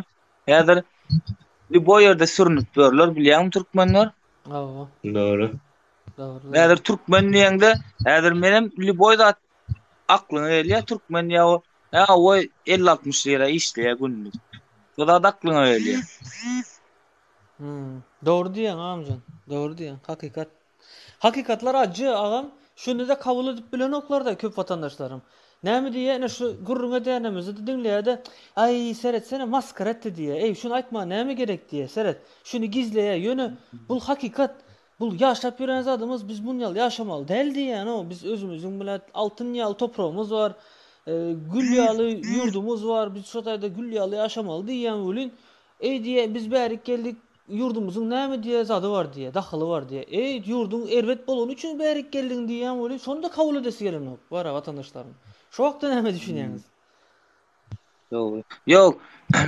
häzir lýuboý ýerde sürünip ýörler, bilýäňmi türkmenler? Hawa. Dogry. Dogry. Häzir türkmen diýeňde, häzir menem lýuboý zat aklyňa gelýär, türkmen diýýär, Ä o elli-altmyş lira işleýär günlük. Bu zat aklyňa gelýär. Hmm. Dogry diýýäň amjan. Dogry diýýäň. Hakykat. Hakykatlar ajy agam. Şuny-da kabul edip bilenoklar-da köp watandaşlarym. Näme diýýär? Ine şu gürrüň edýänimizde-de diňleýär-de, Aý, seretsene, maskara etdi diýýär. Eý, şuny aýtmaga näme gerek diýýär. Seret, şuny gizleýär. Ýöne bul hakykat. Bul ýaşap ýören zadymyz biz muny ýaly ýaşamaly däl diýýänoo biz özümiziň bilet altyn ýaly topragymyz bar gül ýaly ýurdumyz bar biz şo taýda gül ýaly ýaşamaly diýýän welin eý diýýä biz bärik geldik ýurdumyzyň näme diýýä zady bar diýýä dahyly bar diýýä eý ýurduň erbet bolany üçin bärik geldiň diýýän welin şony da kabul edesi gelenok wara watandaşlaryň şo hakda näme düşünýäňiz Dogry. Ýok,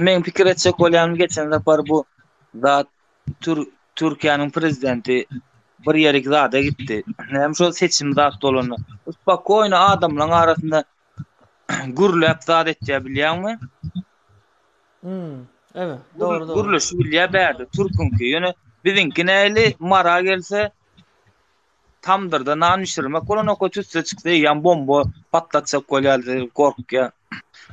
meň pikir etjek bolýanym geçen sapar bu zat Tür Türkiýäniň prezidenti bir ýerik zada gitdi. Näme şol seçim zat bolanda. Spakoýny adamlaryň arasynda gürläp zat etýär bilýäňmi? Hmm, ebe, dogry dogry. Gürleşi bilýär bärde türkünki. Ýöne biziňki näli mara gelse Tamdyrda nan bişirmek bolanok, tüsse çyksa eýýäm bomba patlatjak bolýar diýip gorkýar.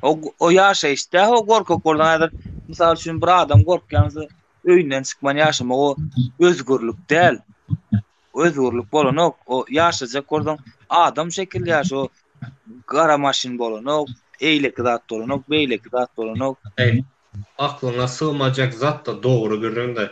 O, o ýaşaýyş däl, o gorkak bolan häzir, mysal üçin, bir adam gorkýansa öýünden çykman ýaşamak o özgürlik däl. Özgürlik bolanok, o ýaşajak bolsaň adam şekilli ýaş, o gara maşyn bolanok, eýleki zat bolanok, beýleki zat bolanok. Aklyňa sygmajak zat-da dogry gürrüň-de.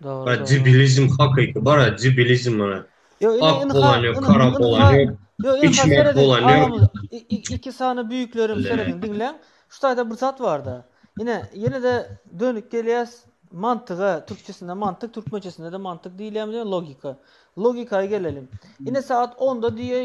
Dogry Bak dogry. cibilizm hakyky bar ya cibilizm mana. Yo ine Ak ynha bolan yok, ynha kara bolan ynha yok, yo ynha içmek serediň bolan yok. aramyz i- i- iki sany büyüklerim serediň diňläň. Şu taýda bir zat barda. Ine ýene-de dönüp gelýäs mantyga. Türkçesinde mantyk, türkmençesinde-de mantyk diýilýärmi diýen logika. Logikaýa geleliň. Ine sagat 10-da diýe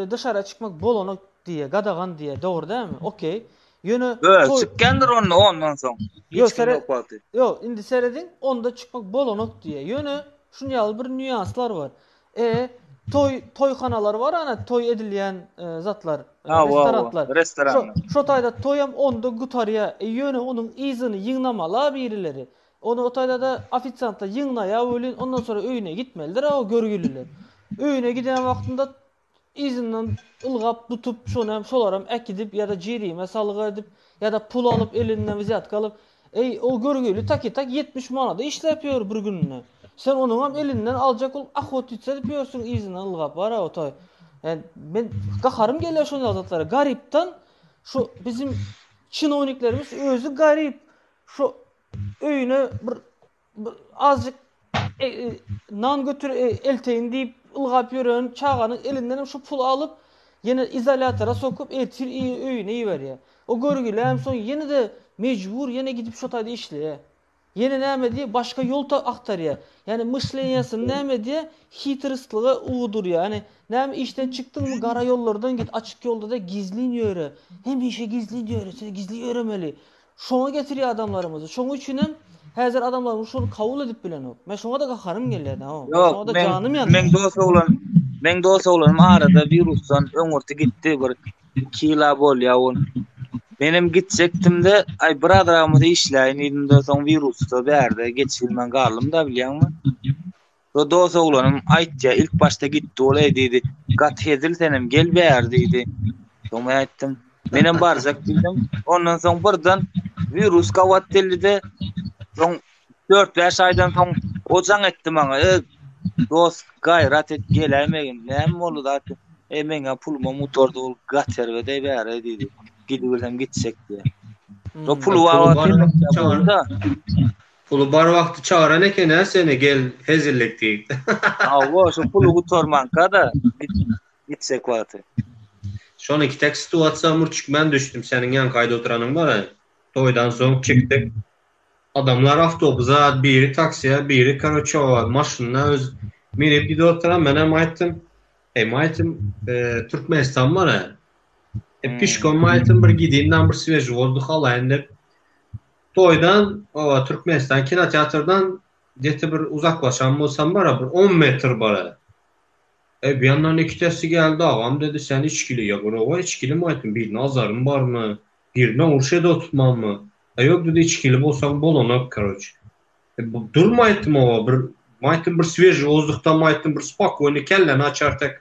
e, dışara çykmak bolana diýe, gadagan diýe, dogry dälmi? Okey. Ýöne toý çykýandyr onda ondan soň. Hiç kim ýok wagty. Ýok, indi serediň, onda çykmak bolanok diýýär. Ýöne şuny ýaly bir nýanslar bar. E, toý toýhanalar bar ana, toý edilýän zatlar, restoranlar. Restoranlar. Şo taýda toýam onda gutarýar. E, ýöne onuň yzyny ýygnamaly-a birileri. Ony o taýda-da ofisiantlar ýygnaýar welin, ondan soň öýüne gitmelidir-a o görgüliler. Öýüne giden wagtynda Yzyndan ylgap tutup, şony hem, şolary hem äkidip ýa-da jerime salgy edip, ýa-da pul alyp, elinden wzýatka alyp, Eý, o görgüli takitak ýetmiş manada işläp ýör bir gününe. Sen onuň hem elinden aljak bolup ahotnitsa edip ýörsüň yzyndan ylgap, wara otaý. Ýani, men gaharym gelýär şonda zatlara. Garypdan şu biziň çinowniklerimiz özi garyp, şu öýüne bir Azjyk nan götür elteýin diýip ylgap ýören çaganyň elindenem şu puly alyp, ýene izolýatora sokup, ertir öýüne iberýär. O görgüli hem soň ýene-de mejbur ýene gidip şo taýda işleýär. Ýene näme edýär? Başga ýol agtarýar. Ýani myşleniýasyny näme edýär? Hitrostlyga ugdurýar. Ýani näme işden çykdyňmy gara ýollardan git, açyk ýolda-da gizlin ýöre. Hemişe gizlin ýöre, sen gizlin ýöremeli. Şoňa getirýär adamlarymyzy. Şoň üçinem häzir adamlarymyz şony kabul edip bilenok. Men şoňada gaharym gelýär da. Şoňada janym ýanýar. Meň dost oglan, meň dost oglanym arada wirusdan öňürti gitdi bir 2 ýyla bolýar ol. Menem gitjekdimde, aý bir azragymyz işläýin diýdimde soň wirusda bärde geçibilmän galdymda bilýäňmi? Rodos oglanym aýtýa ilk başda gitdi ol eý diýdi gaty hezil senem gel bäri diýdi soň men aýtdym menem barjak diýdim ondan soň birden wirus gabat geldi-de soň dört bäş aýdan soň o jaň etdi maňa e dos gaýrat et geläýmegin näme boldy zat e meňem pulumam gutardy ol gaty erbet eý bäri diýdi gidibersem gitjek diýýä so pul babatda Puly bar wagty çagyran eken-ä seni gel hezillik diýip. Hawa, şu puly gutarmanka-da gitjek wagty. Şonuňky tek situasiýa murçik men düşdüm, seniň ýanka aýda oturanyň bar-a. Toýdan soň çykdyk. Adamlar awtobusa, biri taksiýa, biri karoçe maşyna öz minip gidip oturan, menem aýtdym, Heý maýtym, Türkmenistan bar-a. Pişkom maýtym bir gidin-dam bir sweži wozduh alaýyn dep. Toýdan oba Türkmenistan kinoteatrdan geti bir uzaklaşan bolsam bara bir on metr bara. Eý bu ýandan ikitesi geldi agam dedi sen içgili ýa gurawa içgilimi aýtdym birine azaryň barmy birine urş ede otmanmy a ýok dedi içgili bolsaň bolanak karoç. E bu durma aýtdym oba bir aýtdym bir sweži wozduhdam aýtdym bir spokony kelleni açar tek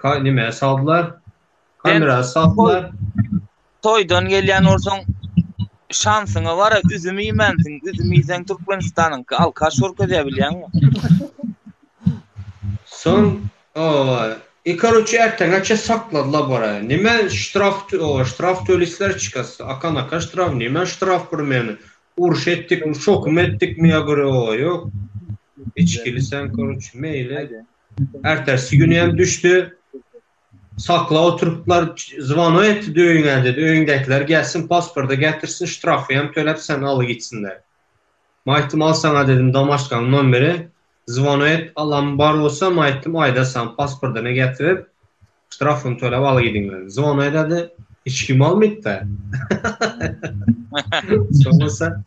Ka nime saldylar? Kamera saldylar. Toýdan gelýän bolsaň şansyňa bara üzüm iýmänsiň. Üzüm iýseň Türkmenistanyňky alkaş görkezýär bilýäňmi? Soň o Ikaruçy erteňeçe sakladylar bara. Nime ştraf o ştraf tölisler çykas. Akan aka ştraf nime ştraf bir meni. Uruş etdik, şokum etdik mi ya göre o ýok. Içkili sen koruç meýle. Ertesi güni hem düşdi. Sakla oturyplar, zwono etdi döýüňe dedi, öýüňdäkiler gelsin, pasporty getirsin, ştrafy hem töläp seni aly gitsinler. Men aýtdym, al saňa dedim domaşkaň nomeri, zwono et, alamy bar bolsa, men aýtdym, aýdarsan pasportyny getirip, Ştrafyny töläp al gidiňler. Zona ededi. Hiç kim almytda. Soňsa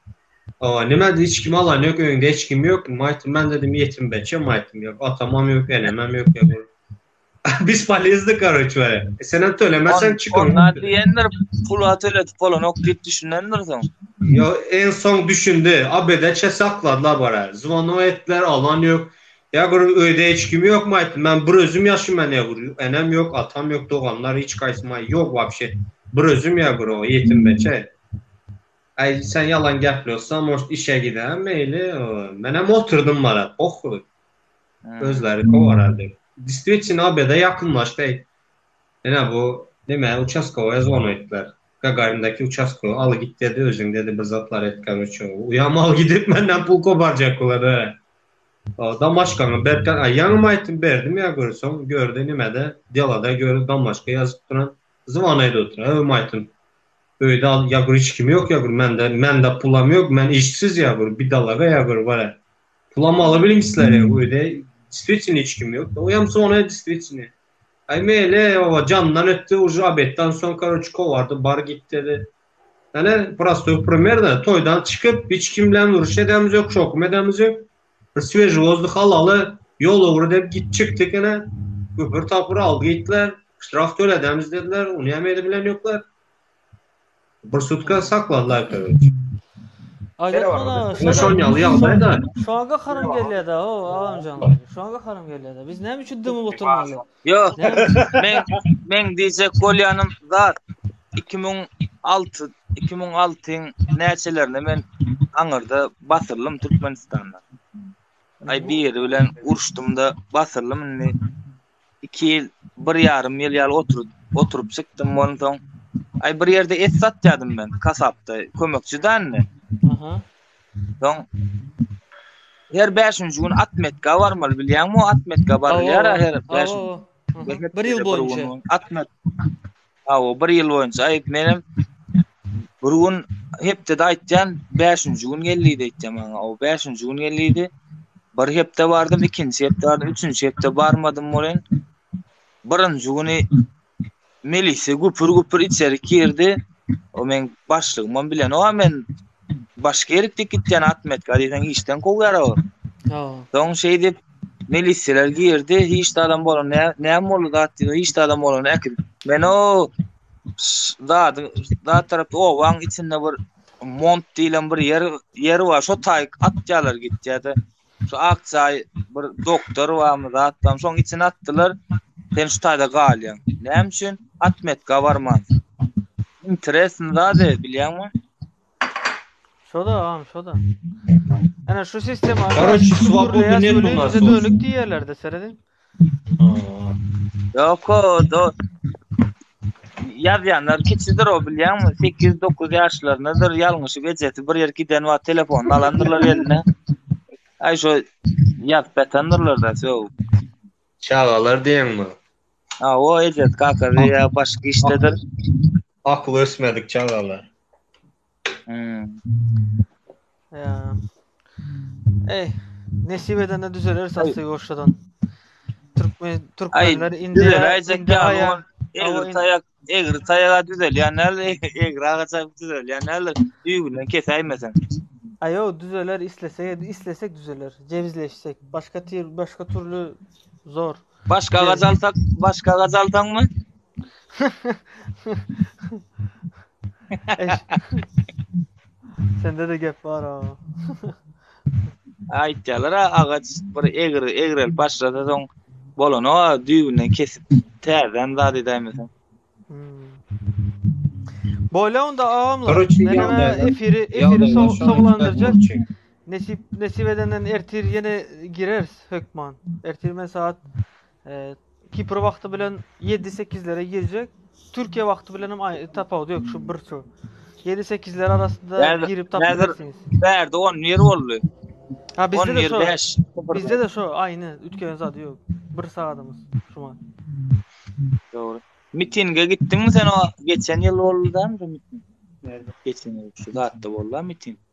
o nima diýdi hiç kim alan ýok öýünde hiç kim ýok. Maýtym men dedim ýetim beçe maýtym ýok. Atamam ýok, enemem ýok. Biz polizdi karoç we sen hem tölemeseň çyk. Onda diýendir pul töletip bolanok diýip düşünendir soň. Yo en soň düşündi. Abede çe sakladylar bara. Zvono etler alan ýok. Ýa bir öýde hiç kim ýokmy aýt, men bir özüm ýaşaýman ýa bir enem ýok, atam ýok, doganlar hiç gaýsy maý ýok wapşe. Bir özüm ýa bir o ýetim beçe. Aý sen ýalan gepleýossaň moşt işe gidäýen meýli. Menem oturdym mara pohuý. Özleri kowarar diýip. Distwitino obeda ýakynlaşdy. Ene bu nime uçaskowyýa zona etdiler. Gagarindaki uçaskowy al git dedi özüň dedi bir zatlar etgem üçin. Uýam al gidip menden pul koparjak olar. Damaşkaňy berkän a ýaňam aýtym berdim ýa görseň görde nimede delada görüň damaşka ýazyp duran zwan aýda otur öm aýtym öýde al ýa gör hiç kim ýok ýa gör mende mende pulam ýok men işsiz ýa gör bidalaga ýa gör wara pulam alabiliň islere öýde diswitini hiç kim ýok oýam zwana diswitini aý meýle owa jandan ötdi uža obeddan soň karoç kowardy bar git dedi Ene prostoý primerda toýdan çykyp hiç kim bilen uruş edämiz ýok şokum edämiz ýok. Bir swejý wozduh alaly ýol ugry dep git çykdyk ene güpür tapyr aldy gitdiler ştraf töledämiz dediler uny hem edip bilen ýoklar. Bir sutka sakladylar aýtaweriş. Aýdar muna şo şon ýaly ýagdaýda. Şoňa gaharym gelýärde o agamjan. Şoňa gaharym gelýärde. Biz näme üçin dymyp oturmaly? Yok. men men diyecek bolyanım zat 2006 2006'yň näçelerinde men aňyrda batyrdym Türkmenistanda. Ay bir ýeri bilen uruşdum da batyrdym indi. 2 ýyl, 1 ýarym ýyl ýaly oturup oturup çykdym ondan soň. Ay bir ýerde et satýadym men kasapda kömekçi dände. Aha. Soň her bäşinji gün atmetka barmaly bilýäňmi o atmetka barylýar her bäş bir ýyl boýunça atmet aw bir ýyl boýunça aýt menem bir gün hepdede aýtýan bäşinji gün geldi diýýär maňa o bäşinji gün geldi bir hepde bardym ikinji hepde bardym üçünji hepde barmadym bolen birinji güni Melise güpür güpür içerik girdi. O men başlygymam bilen o men başga ýerik dik gitýän atmetka diýseň işden kowýar o. Ha. Soň şeýdip miliseler girdi. Hiç de adam bolan nä näme boldy zat diýdi. Hiç de adam bolan äkil. Men o zady zat tarap owaň içinde bir mont diýlen bir ýer ýer bar. Şo taýk atýarlar gitýärdi. Şu ak çaý bir doktor barmy zat barmy şoň içine atdylar. Sen şu taýda galýaň. Näme üçin atmetka barman? Interesn zady bilýäňmi? Şoda agam şoda. Ana şu sistema. Karoç, swobodny net bu nasıl? Dönük diýerlerde seredin. Yok o do yazýanlar kiçidir o bilýäňmi? 8-9 ýaşlaryndadyr. Ýalňyşyp ejesi bir ýer giden wagt telefonyny alandyrlar eline. Aý şu ýazyp ýatandyrlar da şo. Çagalar diýeňmi? Ha o ejesi kakasy ýa başga işdedir. Akyly ösmedik çagalar. Ýa. Eý, nesip edende düzeler saksy ýoşadan. Türkmen türkmenler indi indi aýa. Egri taýak, egri taýaga düzelýän näl, egri agaça düzelýän näl, düýbünden kesäýmeseň. Aýo düzeler islesek, islesek düzeler. Jebizleşsek, başga başga türlü zor. Başga agaç alsak, başga agaç alsaňmy? Sende de gep bar ha. Aýtýarlar ha, agaç bir egir, egrelip başlasa soň bolany o düýbünden kesip täzeden zat edäýmeseň. Hmm. Boýla onda agamlar. Garaçy Men ýagdaýlar- efiri efiri ýagdaýlar şonuň üstüne sowlandyrjak. gurçy. Nesip nesip edenden ertir ýene gireris hökman. Ertir men saat e, Kipr wagty bilen 7-8-lere girjek. Türkiýe wagty bilen hem aý- tapawudy ýok şu bir şu. 7-8-ler arasynda Näzir- girip tapyp Näzir- bilersiňiz. Bärde 10 ýer boldy. Ha 10 bizde de ýer şu. 5. Bizde de şu aýny ütkenen zady ýok. Bir sagadymyz şuma. Dogry. Mitinge gitdiňmi sen o geçen ýyl boldy dämi şu miting? Nerede? Geçen ýyl şu zatda boldy miting.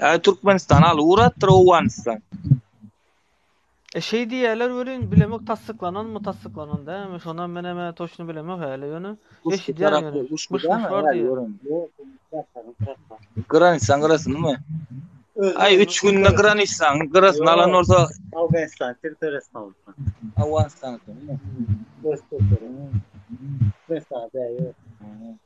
Ay Türkmenistan al uğrattır Owganistan. E şey diýýärler welin bilemek tassyklanan mı tassyklanan da mi şonam men hem toşny bilemek häli ýöne eşidýän ýöne guş guş bar diýýär. Granisan gyrasyn mı? Ay 3 günde granisan gyrasyn alan bolsa Afganistan territoriýasyny aldy. Afganistan. Türkmenistan däýýär.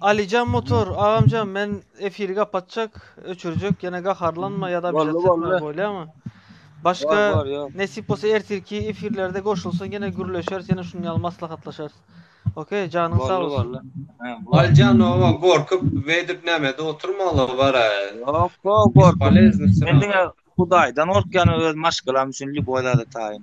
Alijan motor agamjan men efiri gapatjak öçürjek ýene gaharlanma ýa-da bir zat etme bolýamy? Başga nesip bolsa ertirki efirlerde goşulsaň ýene gürleşeris ýene şunuň ýaly maslahatlaşarys. Okey, janyň sag bolsun. Aljan oňa gorkup wedip nämede oturmaly bara. Ýok, gorkup. Men diňe Hudaýdan gorkýan öz maşgalam üçin lýuboý zada taýyn.